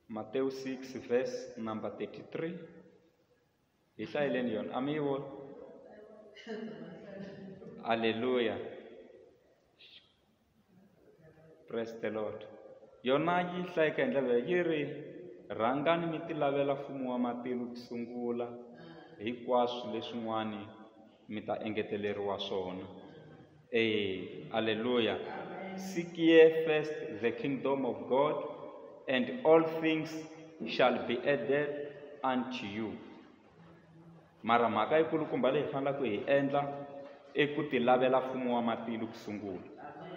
Mateo 6 verse number 33 hi hlayeleni yona a mi yi vona aleluya praise the lord yona yi hlayeka hi ndlela leyi yi ri rhangani mi ti lavela mfumo wa matilo ku sungula hinkwaswo leswin'wani mi ta engeteleriwa swona e alleluya seek ye first the kingdom of god and all things shall be added unto you mara mhaka yikulukumba leyi fanelaka ku hi endla i ku ti lavela mfumo wa matilo ku sungula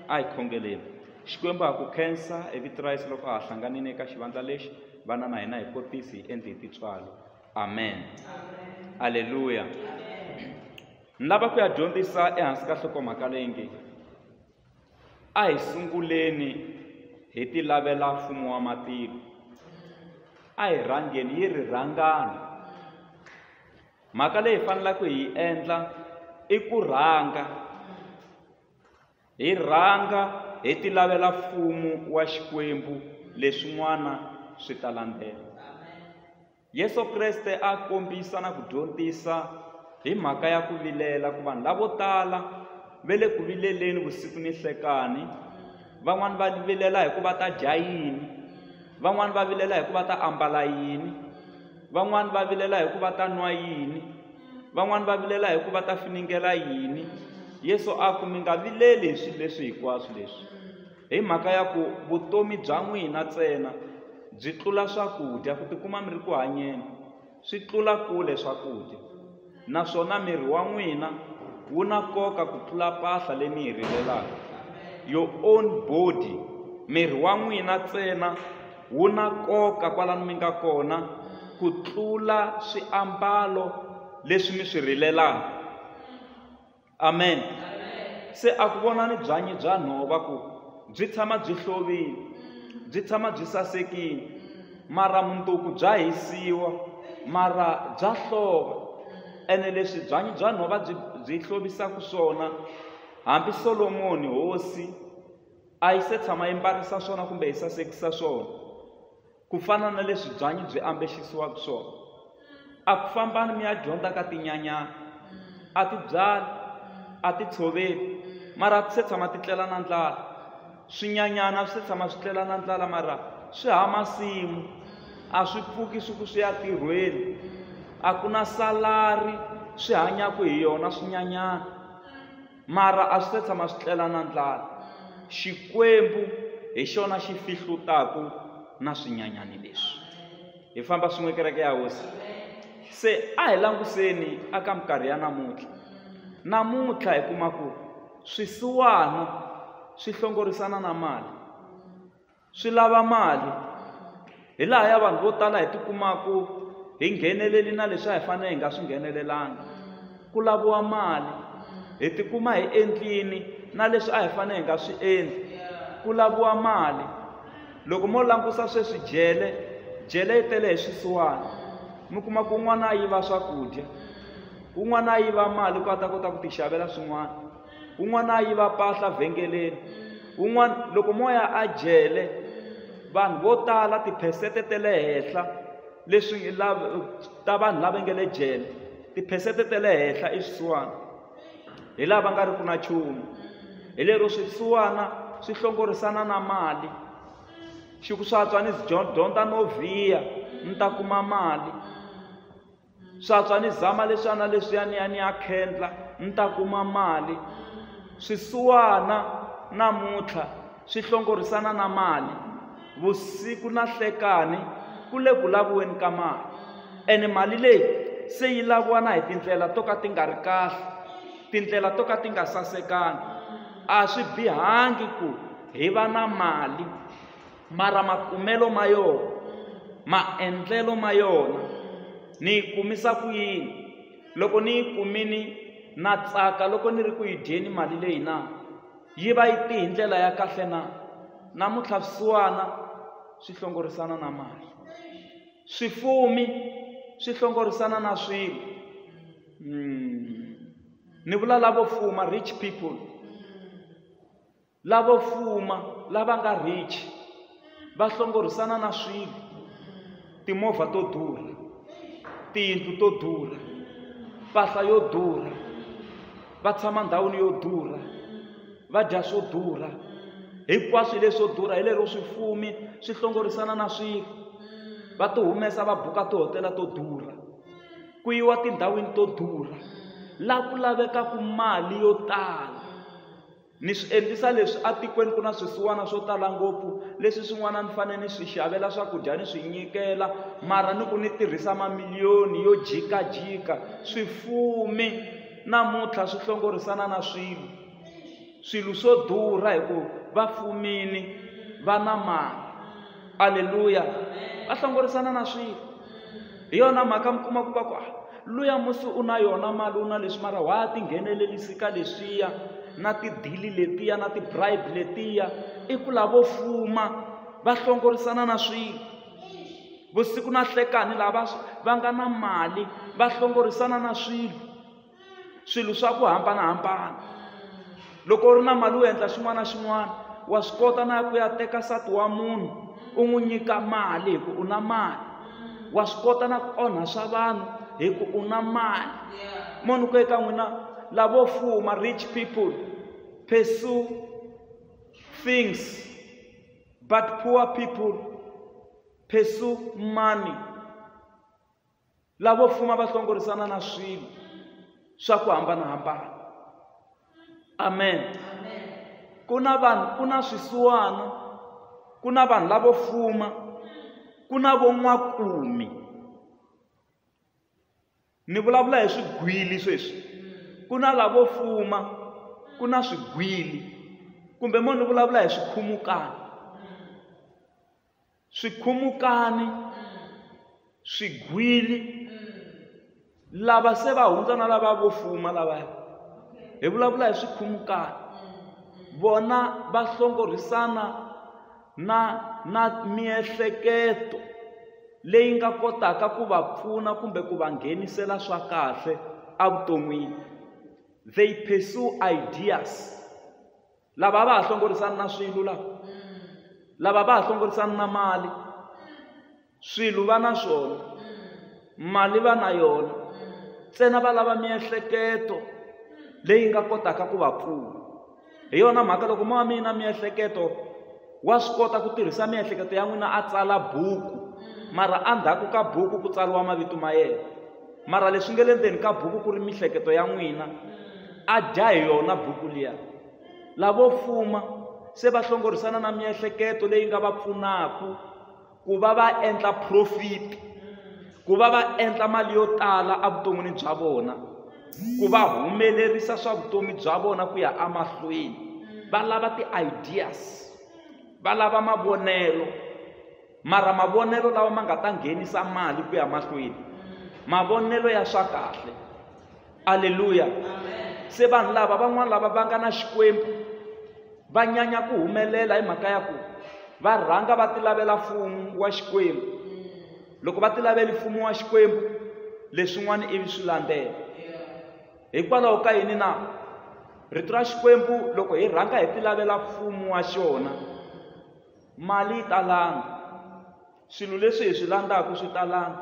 a hi khongeleni xikwembu ha ku khensa hi vito ra yesu loko ha hlanganile eka xivandla lexi vana na hina hi kotisi hi endli hi titswalo amen aleluya ni lava ku ya dyondzisa ehansi ka nhlokomhaka leyi nge a hi sunguleni hi ti lavela mfumo wa matilo a hi rhangeni yi ri rhangani mhaka leyi faneleke hi yi endla i ku rhanga Hi rhanga hi ti lavela mfumo wa Xikwembu leswin'wana swi ta landzela. Yesu Kreste a kombisa na ku dyondzisa hi mhaka ya ku vilela ku vanhu lavo tala ve le ku vileleni vusiku ni hlekani van'wani va vilela hi ku va ta dya yini van'wani va vilela hi ku va ta ambala yini van'wani va vilela hi ku va ta nwa yini Van'wana va vilela hi ku va ta finingela yini. Yesu a ku mi nga vileli hi swilo leswi hinkwaswo leswi. Hi mhaka ya ku vutomi bya n'wina ntsena byi tlula swakudya ku tikuma mi ri ku hanyeni swi tlula kule swakudya naswona miri wa n'wina wu na nkoka ku tlula mpahla leyi mi yi rivelaka your own body miri wa n'wina ntsena Wu na nkoka kwalano mi nga kona ku tlula swiambalo leswi mi swi rilelaka. Amen. Se a ku vonani byanyi bya nhova ku byi tshama byi hlovile, byi tshama byi sasekile, mara munduku bya hisiwa mara bya hlova. Ene leswi byanyi bya nhova byi byi hlovisaka swona, hambi Solomoni hosi a yi se tshama yi mbarisa swona kumbe yi sasekisa swona ku fana na leswi byanyi byi ambexisiwaka swona a ku fambani mi ya dyondza ka tinyanyana a ti byali a ti tshoveli mara a ti se tshama ti tlela na ndlala swinyanyana a swi se tshama swi tlela na ndlala mara swi ha masimu a swi pfuki swi ku swi ya tirhweni a ku na salari swi hanyaka hi yona swinyanyana mara a swi se tshama swi tlela na ndlala xikwembu hi xona xi fihlutaku na swinyanyani leswi hi famba swin'we kereke ya hosi se a hi languseni aka minkarhi ya namuntlha namuntlha hi kuma ku swisiwana swi hlongorisana na mali swi lava mali hi laha ya vanhu vo tala hi tikumaku hi ngheneleli na leswi a hi fanele hi nga swi nghenelelanga ku laviwa mali hi tikuma hi endlini na leswi a hi fanele hi nga swi endli ku laviwa mali loko mo langusa sweswi jele jele yi tele hi swisiwana mi kuma ku un'wana a yiva swakudya un'wana a yiva mali ku a ta kota ku ti xavela swin'wana un'wana a yiva mpahla vhengeleni un'wana loko moya a jele vanhu vo tala tiphesente te le henhla leswi ta vanhu lava nge le jele tiphesente te le henhla i swisiwana hi laha va nga ri ku na nchumu hi lero swisiwana swi hlongorisana na mali xi ku swa tswa ni dyondza no vhiya ni ta kuma mali swatswa ni zama leswiya na leswiya ni ya ni ya khendla ni ta kuma mali swisiwana namuntlha swi hlongorisana na mali vusiku na hlekani ku le ku laviweni ka mali ene mali leyi se yi laviwa na hi tindlela to ka ti nga ri kahle tindlela to ka ti nga sasekanga a swi bihangi ku hi va na mali mara makumelo ma yona maendlelo ma yona ni yi kumisa ku yini loko ni yi kumini na tsaka loko ni ri ku yi dyeni mali leyi na yi va yi ti hi ndlela ya kahle na namuntlha swisiwana swi hlongorisana na mali swifumi swi hlongorisana na swilo mm. ni vula lavo fuma rich people Lavo fuma lava nga rich va hlongorisana na swilo, timovha to durha, tiyindlu to durha, mpahla yo durha, va tshama ndhawini yo durha, va dya swo durha, hinkwaswo leswo durha hi lero swifumi swi hlongorisana na swilo va ti humesa va buka tihotela to durha ku yiwa tindhawini to durha la ku lavekaku mali yo tala. Ni swi endlisa leswi atikweni ku na swisiwana swo tala ngopfu, leswi swin'wana ni fanele ni swi xavela swakudya ni swi nyikela, mara ni ku ni tirhisa mamiliyoni yo jikajika. Swifumi namuntlha swi hlongorisana na swilo, swilo swo durha hi ku va fumini, va na mali. Aleluya! Va hlongorisana na swilo. hi yona mhaka mi kuma ku va ku ah, luya musi u na yona mali u na leswi mara wa ti nghenelelisi ka leswiya na tidili letiya na ti-bribe letiya i ku lavo fuma va hlongorisana na swilo vusiku na hlekani lava va nga na mali va hlongorisana na swilo swilo swa ku hambanahambana loko u ri na mali u endla xin'wana na xin'wana wa swi kota na ku ya teka nsati wa munhu u n'wi nyika mali hi ku u na mali wa swi kota na ku onha swa vanhu hi ku u na mali munhu ku eka n'wina lavo fuma rich people pursue things but poor people pursue money lavo fuma va hlongorisana na swilo swa ku hambanahambana amen ku na vanhu ku na swisiwana ku na vanhu lavo fuma ku na von'wakumi ni vulavula hi swigwili sweswi ku na lavo fuma ku na swigwili kumbe mo ni vulavula hi swikhumukani swikhumukani swigwili lava se va hundza na lava vo fuma lavaya hi vulavula hi swikhumukani vona va hlongorhisana na na miehleketo leyi nga kotaka ku va pfuna kumbe ku va nghenisela swa kahle evuton'wini they pursue ideas lava a va ha hlongorisani na swilo lava lava va ha hlongorisani na mali swilo va na swona mali va na yona ntsena va lava miehleketo leyi nga kotaka ku va pfuna hi yona mhaka loko ma mina miehleketo wa swi kota ku tirhisa miehleketo ya n'wina a tsala buku mara endzhaku ka buku ku tsariwa mavito ma yena mara leswi nge le ndzeni ka buku ku ri mihleketo ya n'wina a dya hi yona buku liya lavo fuma se va hlongorisana na miehleketo leyi nga va pfunaka ku va va endla profit ku va va endla mali yo tala evuton'wini bya vona ku va humelerisa swa vutomi bya vona ku ya emahlweni va lava ti-ideas va lava mavonelo mara mavonelo lawa ma nga ta nghenisa mali ku ya mahlweni mavonelo ya swa kahle aleluya se vanhu lava van'wana lava va nga na xikwembu va nyanya ku humelela hi mhaka ya ku va rhanga va tilavela mfumo wa xikwembu loko va tilaveli mfumo wa xikwembu leswin'wana ivi swi landzela hikwalaho ka yini na rito ra xikwembu loko hi rhanga hi tilavela mfumo wa xona mali yi talanga swilo leswi hi swi landzaka swi talanga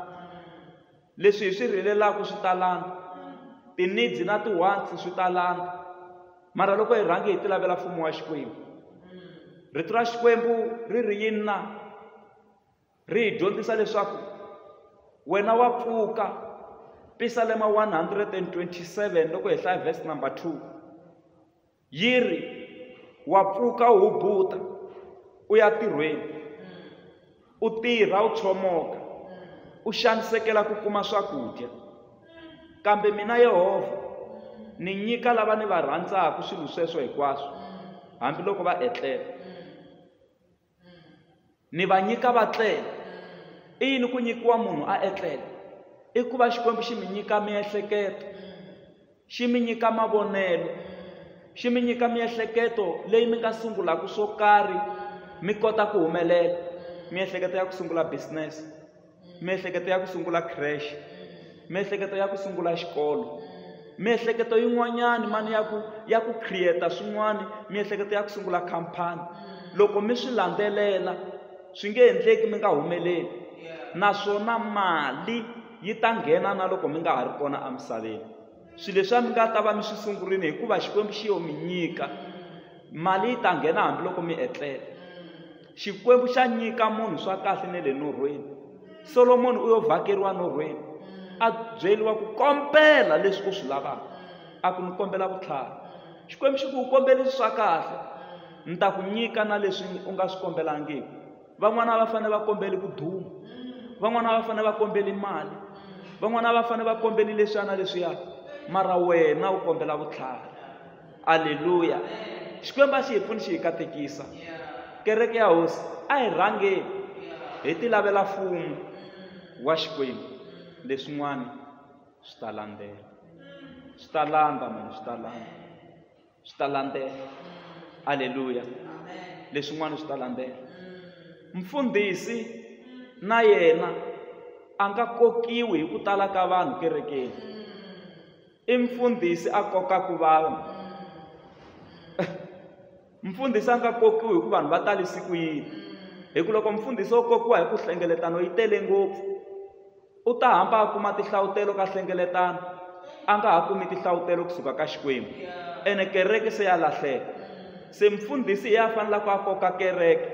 leswi hi swi rhelelaka swi talanga ti-needs na ti-wants swi talanga mara loko hi rhangi hi ti lavela mfumo wa xikwembu rito ra xikwembu ri ri yini na ri hi dyondzisa leswaku wena wa pfuka pisalema 127 loko hi hlaya vhesi number 2 yi ri wa pfuka u hubuta u ya tirhweni u tirha u tshomoka u xanisekela ku kuma swakudya kambe mina yehovha ni nyika lava ni va rhandzaka swilo sweswo hinkwaswo hambiloko va etlela ni va nyika va tlela i yini ku nyikiwa munhu a etlela i ku va xikwembu xi mi nyika miehleketo xi mi nyika mavonelo xi mi nyika miehleketo leyi mi nga sungulaka swo karhi mi kota ku humelela miehleketo ya ku sungula business miehleketo ya ku sungula crash miehleketo ya ku sungula xikolo miehleketo yin'wanyani mani ya ku ya ku create swin'wani miehleketo ya ku sungula khampani loko mi swi landzelela swi nge endleki mi nga humeleli naswona mali yi ta nghena na loko mi nga ha ri kona emisaveni swilo leswi a mi nga ta va mi swi sungurile hikuva xikwembu xi yo mi nyika mali yi ta nghena hambiloko mi etlela Xikwembu xa nyika munhu swa kahle ne le norhweni. Solomoni u yo vhakeriwa norhweni, a byeriwa ku kombela leswi u swi lavaka. A ku ni kombela vutlhari. Xikwembu xi ku u kombelisi swa kahle, ni ta ku nyika na leswi u nga swi kombelangiki. Van'wana va fanele va kombeli ku duma, van'wana va fanele va kombeli mali, van'wana va fanele va kombeli leswiya na leswiya, mara wena u kombela vutlhari. aleluya xikwembu a xi hi pfuni xi hi katekisa kereke ya hosi a hi rhangeni hi ti lavela fumo wa xikwembu leswin'wana swi ta landzela swi ta landza mani swi ta landza swi ta landzela aleluya leswin'wana swi ta landzela mfundhisi na yena a nga kokiwi hi ku tala ka vanhu kerekeni i mfundhisi a kokaka vanhu mfundhisi a nga kokiwi hi ku vanhu va tali siku yini hi ku loko mfundhisi wo kokiwa hi ku hlengeletano yi tele ngopfu u ta hamba a kuma tihlawutelo ka hlengeletano a nga ha kumi tihlawutelo kusuka ka xikwembu ene kereke se ya lahleka Se mfundhisi hi a fanelaka a koka kereke,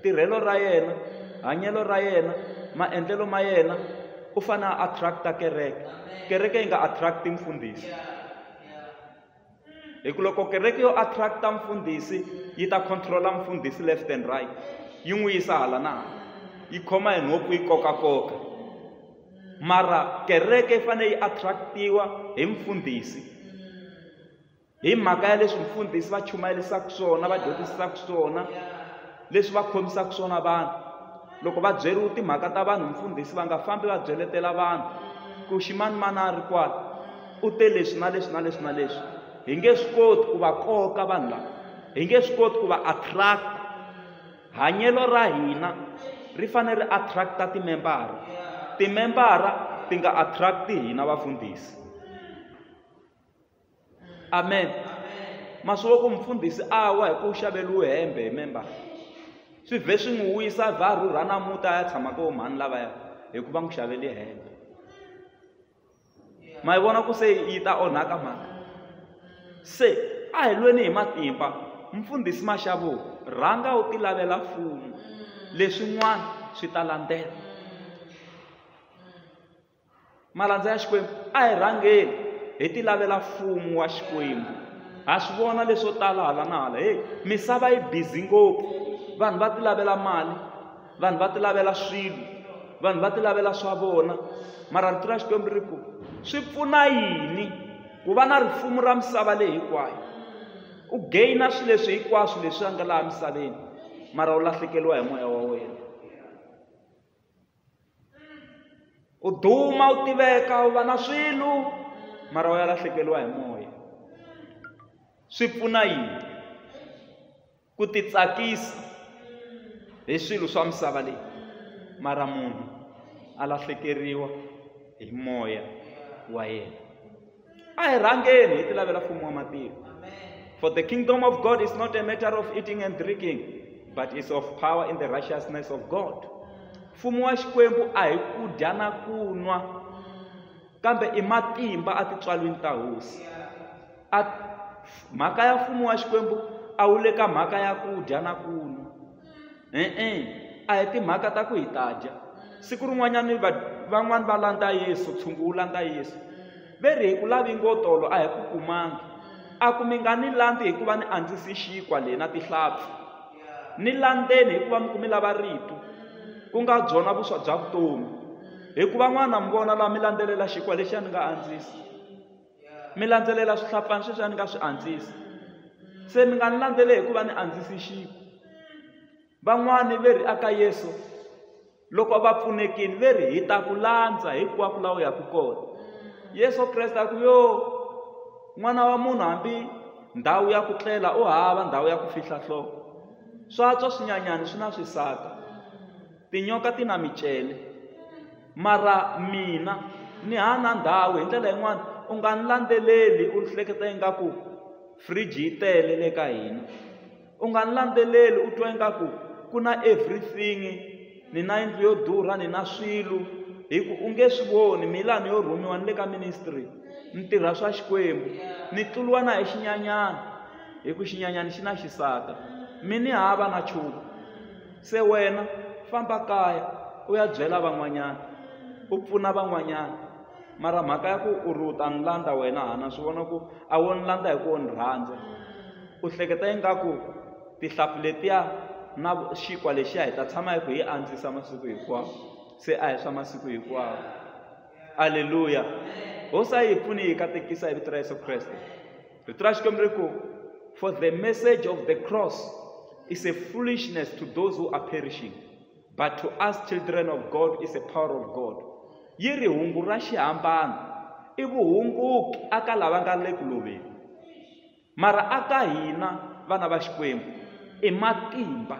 tirhelo ra yena, hanyelo ra yena, maendlelo ma yena, u fanele a attract-a kereke. Kereke yi nga attract-i mfundhisi. Hi ku loko kereke yo attract-a mfundhisi yi ta control-a mfundhisi left and right, yi n'wi yisa hala na hala, yi khoma hi nhompfu yi kokakoka. Mara kereke yi fanele yi attract-iwa hi mfundhisi. hi mhaka ya leswi mfundhisi va chumayelisaka swona va dyondzisaka swona leswi va khomisaka swona vanhu loko va byeriwa timhaka ta vanhu mfundhisi va nga fambi va byeletela vanhu ku ximani mana a ri kwala u te leswi na leswi na leswi na leswi hi nge swi koti ku va koka vanhu lava hi nge swi koti ku va attract hanyelo ra hina ri fanele ri attract-a timembara timembara ti nga attract-i hina vafundhisi amen ma swi loko mufundhisi a wa hi ku xaveriwe hembe hi member swi vhe swi n'wi wisa vha rhurha na muta ya tshama ka vomhani lavaya hikuva n'wi xavele hembe ma yi vona ku se yi ta onhaka mhaka se a hi lweni hi matimba mfundhisi maxavo rhanga u ti lavela mfumo leswin'wana swi ta landzela malandza ya xikwembu a hi rhangeni hi ti lavela mfumo wa xikwembu ha swi vona leswo tala hala na hala heyi misava yi bizi ngopfu vanhu va ti lavela mali vanhu va ti lavela swilo vanhu va ti lavela swa vona mara rito ra xikwembu ri ku swi pfuna yini ku va na rifumo ra misava leyi hinkwayo u gaina swilo leswi hinkwaswo leswi a nga laha misaveni mara u lahlekeriwa hi moya wa wena u duma u tiveka u va na swilo mara u ya lahlekeriwa hi moya swi pfuna yini ku titsakisa hi swilo swa misava leyi mara munhu a lahlekeriwa hi moya wa yena a hi rhangeni hi ti lavela mfumo wa matiko for the kingdom of god is not a matter of eating and drinking but is of power in the righteousness of god mfumo wa xikwembu a hi ku dya na ku nwa kambe i matimba a titswalwini ta hosi a mhaka ya mfumo wa xikwembu a wu le ka mhaka ya ku dya na ku nwa e-e a hi timhaka ta ku hi ta dya siku rin'wanyana va van'wani va landza yesu tshungu wu landza yesu ve ri hi ku lavi ngo tolo a hi ku kumangi a ku mi nga ni landzi hikuva ni andzisi xinkwa leyi na tihlampfi ni landzeni hikuva mi ku mi lava rito ku nga byona vuswa bya vutomi hikuva n'wana mi vona laha mi landzelela xinkwa lexi a ni nga andzisi mi landzelela swihlapfani sweswi a ni nga swi andzisi se mi nga ni landzele hikuva ni andzisi xiku van'wani ve ri aka yesu loko va pfunekini ve ri hi ta ku landza hinkwako laha u yaka kona yesu kreste a ku yo n'wana wa munhu hambi ndhawu ya ku tlela u hava ndhawu ya ku fihla nhloko swa tswa swinyanyani swi na swisaka Tinyoka ti na micele, mara mina ni hana ndhawu. Hi ndlela yin'wana u nga ni landzeleli u hleketa ingaku fridge yi tele le ka hina. U nga ni landzeleli u twa ingaku ku na everything, ni na yindlu yo durha, ni na swilo, hi ku u nge swi voni. Mi laha ni yo rhumiwa ni le ka ministry, ni tirha swa Xikwembu, ni tluriwa na hi xinyanyana, hikuva xinyanyana xi na xisaka. Mi ni hava na nchumu. se wena famba kaya u ya byela van'wanyana u pfuna van'wanyana mara mhaka ya ku u ri u ta ni landza wena hana swi vona ku a wo ni landza hi ku wo ni rhandza u hleketa ingaku tihlampfi letiya na xinkwa lexiya hi ta tshama hi ku hi andzisa masiku hinkwawo se a hi swa masiku hinkwawo aleluya hosi a yi hi pfuni hi katekisa hi vito ra yesu kreste Petro achikomere ko for the message of the cross is a foolishness to those who are perishing but to us children of God is a power of God yi ri hungu ra xihambano i vuhunguki aka lava nga le ku loveni mara aka hina vana va xikwembu i matimba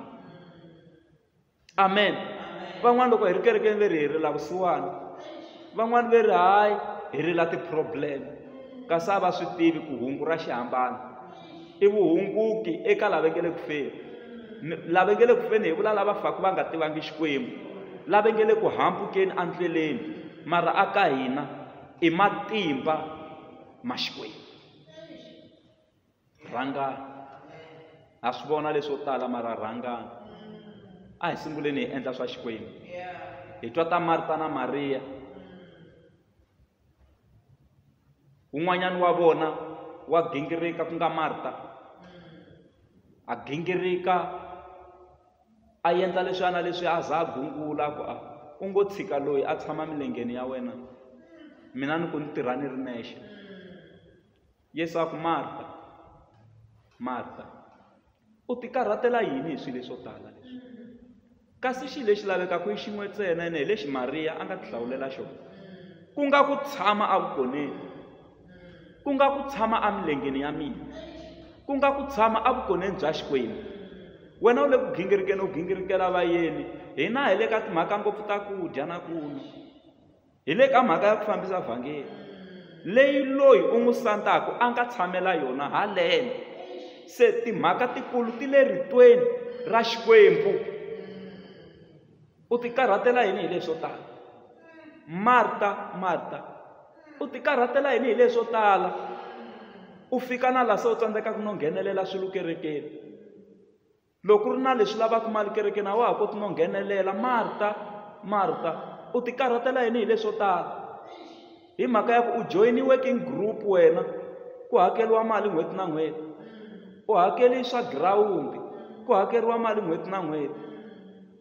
amen van'wana loko hi ri kerekeni ve ri hi rila vusiwana van'wana ve ri hayi hi rila ti-problem kasi a va swi tivi ku hungu ra xihambana i vuhunguki eka lava nge le ku feni lava nge le ku feni hi vula lava faka va nga tivangi xikwembu lava nge le ku hambukeni endleleni mara a ka hina i matimba ma xikwembu rhangani ha swi vona leswo tala mara rhangani a hi sunguleni hi endla swa xikwembu hi twa ta marta na mariya un'wanyana wa vona wa gingirika ku nga marta a gingirika a endla leswiana leswi a za a gungula ku a u ngo tshika loyi a tshama milengeni ya wena mina ni ku ni tirha ni ri nexe Yesu a ku, Marta, Marta, u tikarhatela yini hi swilo leswo tala leswi? Kasi xilo lexi lavekaka i xin'we ntsena ene hi lexi Mariya a nga tihlawulela xona. Ku nga ku tshama evukoneni, ku nga ku tshama emilengeni ya mina, ku nga ku tshama evukoneni bya Xikwembu. Wena u le ku gingirikeni u gingirikela vayeni, hina hi le ka timhaka ngopfu ta ku dya na ku nwa. hi le ka mhaka ya ku fambisa vhangeli leyi loyi u n'wi sandaka a nga tshamela yona haleno se timhaka tikulu ti le ritweni ra xikwembu u ti karhatela yini hi leswo tala marta marta u ti karhatela yini hi leswo tala u fika na laha se u tsandzekaka no nghenelela swilo kerekeni loko ku ri na leswi lavaka mali kerekeni a wa ha koti no nghenelela marta marta u ti karhatela yini hi leswo tala hi mhaka ya ku u joyini working group wena ku hakeriwa mali n'hweti na n'hweti u hakeli swa girawundi ku hakeriwa mali n'hweti na n'hweti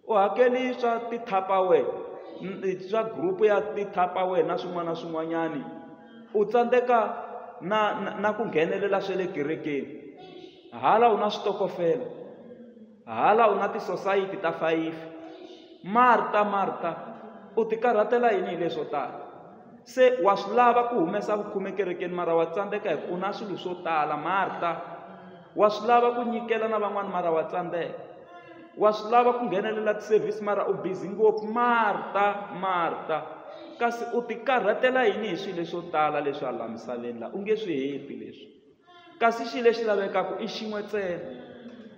u hakeli swa tithapawe swa group ya tithapawe na swin'wana na swin'wanyani u tsandzeka na na ku nghenelela swa le kerekeni Hala u na switokofela. Hala u na tisosayiti ta fayifi. Marta, Marta, u tikarhatela yini hi leswo tala? Se wa swi lava ku humesa vukhume kerekeni mara wa tsandzeka hi ku u na swilo swo tala. Marta, wa swi lava ku nyikela na van'wana mara wa tsandzeka. Wa swi lava ku nghenelela ti-service mara u busy ngopfu. Marta, Marta, kasi u tikarhatela yini hi swilo leswo tala leswi hala misaveni laha u nge swi heti leswi. Kasi xi lexi lavekaka i xin'we ntsena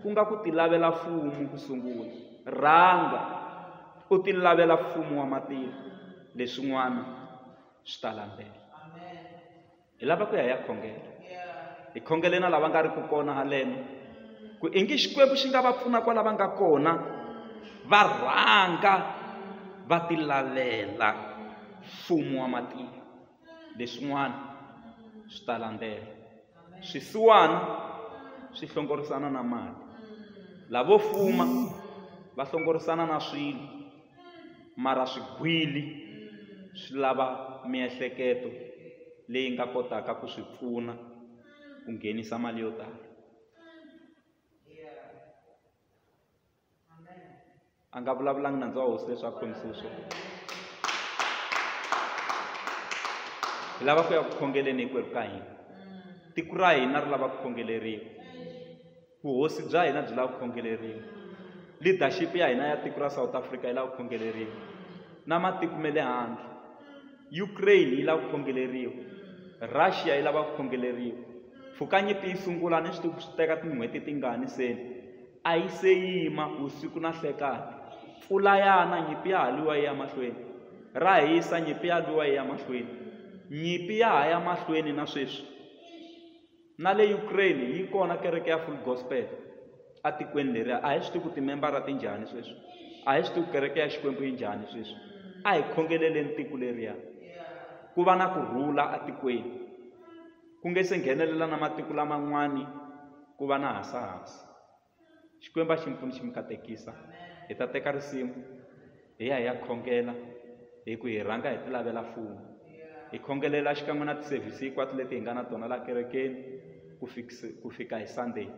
ku nga ku tilavela fumo ku sungula rhanga u tilavela fumo wa matilo leswin'wana swi ta landzela hi lava ku ya ya khongela hi khongele na lava nga ri ku kona haleno ku i ngi xikwembu xi nga va pfuna kwala va nga kona va rhanga va tilavela fumo wa matilo leswin'wana swi ta landzela swisiwana swi hlongorisana na mali lavo fuma va hlongorisana na swilo mara swigwili swi lava miehleketo leyi nga kotaka ku swi pfuna ku nghenisa mali yo tala a nga vulavulangi nandzu wa hosi leswi a khomisile swona hi lava ku ya ku khongeleni hinkwerhu ka hina tiko ra hina ri lava ku khongeleriwa vuhosi bya hina byi lava ku khongeleriwa leadership ya hina ya tiko ra south africa yi lava ku khongeleriwa na matiko ma le handle ukraine yi lava ku khongeleriwa russia yi lava ku khongeleriwa pfukanyipi yi sungula ni swi tiku swi teka tin'hweti tingani seni A yi se yima vusiku na nhlekani. Mpfula ya na, nyimpi ya ha lwiwa yi ya mahlweni. Ra hisa, nyimpi ya lwiwa yi ya mahlweni. Nyimpi ya ha ya mahlweni na sweswi. Na le Ukraine yi kona kereke ya Full Gospel etikweni leriya. A hi swi tivi ku timembara ti njhani sweswi, a hi swi tivi ku kereke ya Xikwembu yi njhani sweswi. A hi khongeleleni tiko leriya, ku va na ku rhula etikweni. ku nge se nghenelela na matiko laman'wani ku va na hasahasa xikwembu a xi mi pfuni xi mi katekisa hi ta teka risimu hi ya hi ya khongela hi ku hi rhanga hi ti lavela mfumo hi khongelela xikan'we na tisevhisi hinkwato leti hi nga na tona la kerekeni ku fikisa ku fika hi sunday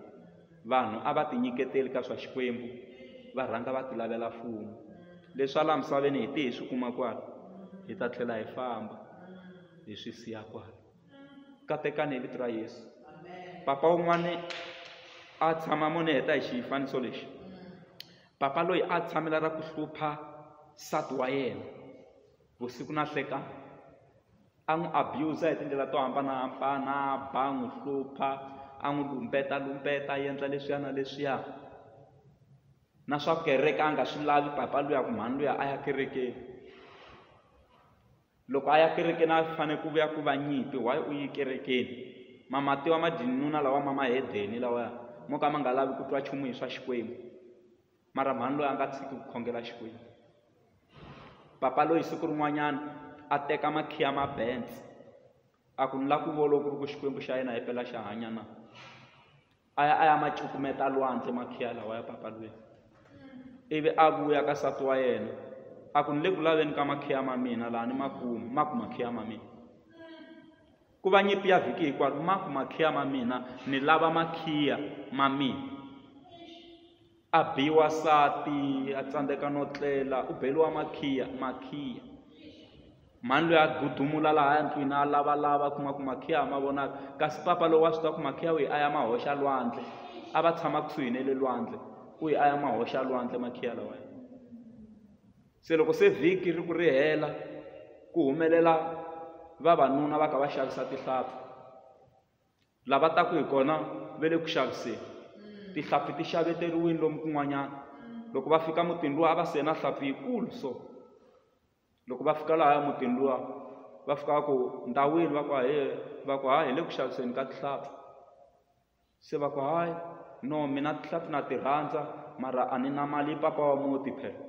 vanhu a va ti nyiketeli ka swa xikwembu va rhanga va ti lavela mfumo leswi ala misaveni hi ti hi swi kuma kwala hi ta tlhela hi famba hi swi siya kwala katekani hi vito ra yesu papa un'wana a tshama mone heta hi xifaniso lexi papa loyi a tshamela ra ku hlupha nsati wa yena vusiku na hlekana a n'wi abuser hi tindlela to hambanahambana ba n'wi hlupha a n'wi lumbeta lumbeta a endla leswiya na leswiya na swa kereke a nga swi lavi papa luya ku mhani luya a ya kerekeni loko a ya kerekeni a fanele ku vuya ku va nyimpi why u yi kerekeni mamatiwa madinuna lawa ma mahedeni lawa mo ka ma nga lavi ku twa nchumu hi swa xikwembu mara mhani loyi a nga tshiki ku khongela xikwembu papa loyi siku rin'wanyana a teka makhiya ma benz a ku ni la ku volo ku ri ku xikwembu xa yena hi pela xa hanya na a ya a ya ma cukumeta lwandle makhiya lawa ya papalweni ivi a vuya ka sati wa yena a ku ni le ku laveni ka makhiya ma mina laha ni ma kuma ma ku makhiya ma mina ku va nyimpi ya vhiki hikwaro ma ku makhiya ma mina ni lava makhiya ma mina A biwa nsati a tsandzeka no tlela u beriwa makhiya makhiya mhani loyi a gudumula laha ndlwini a lavalava kuma ku makhiya a ma vonaka kasi papa lowu wa swi tiva ku makhiya wihi a ya ma hoxa lwandle a va tshama kusuhi ne le lwandle u yi a ya ma hoxa lwandle makhiya lawa se loko se vhiki ri ku ri hela ku humelela vavanuna va ka va xavisa tihlampfi lava taka hi kona ve le ku xaviseni tihlampfi ti xaveteriwini lomu kun'wanyana loko va fika mutini luwa a va sena hlampfi yikulu so loko va fika lahaya mutini luwa va fika va ku ndhawini va ku hahe va ku hayi hi le ku xaviseni ka tihlampfi se va ku hayi no mina tihlampfi na ti rhandza mara a ni na mali papa wa muti phela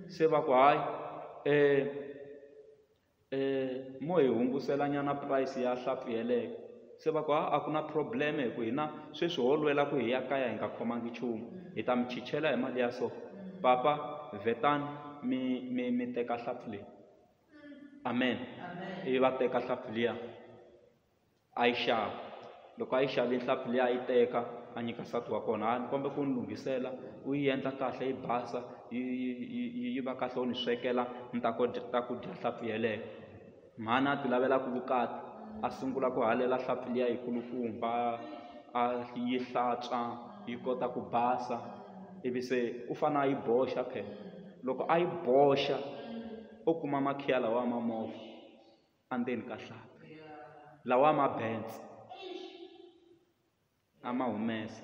se va ku hayi mo hi hungusela nyana price ya hlampfi yeleyo se va ku ha a ku na problem hi ku hina sweswi ho lwela ku hi ya kaya hi nga khomangi nchumu hi ta mi chichela hi mali ya so papa vetani mi mi mi teka hlampfi leyi amen ivi va teka hlampfi liya a yi xava loko a yi xave nhlampfi leyi a yi teka a nyika nsati wa kona a ni kombela ku ni lunghisela u yi endla kahle yi basa yi yi yi yi va kahle u ni swekela ni ta ku ta ku dya nhlampfi yeleyo mhani a ti lavelaku vukati a sungula ku halela nhlampfi liya yi kulukumba a yi hlantswa yi kota ku basa ivi se u fane a yi boxa phela loko a yi boxa o kuma makhiya lawa ma movha endzeni ka hlampfi lawa ma bentse a ma humesa.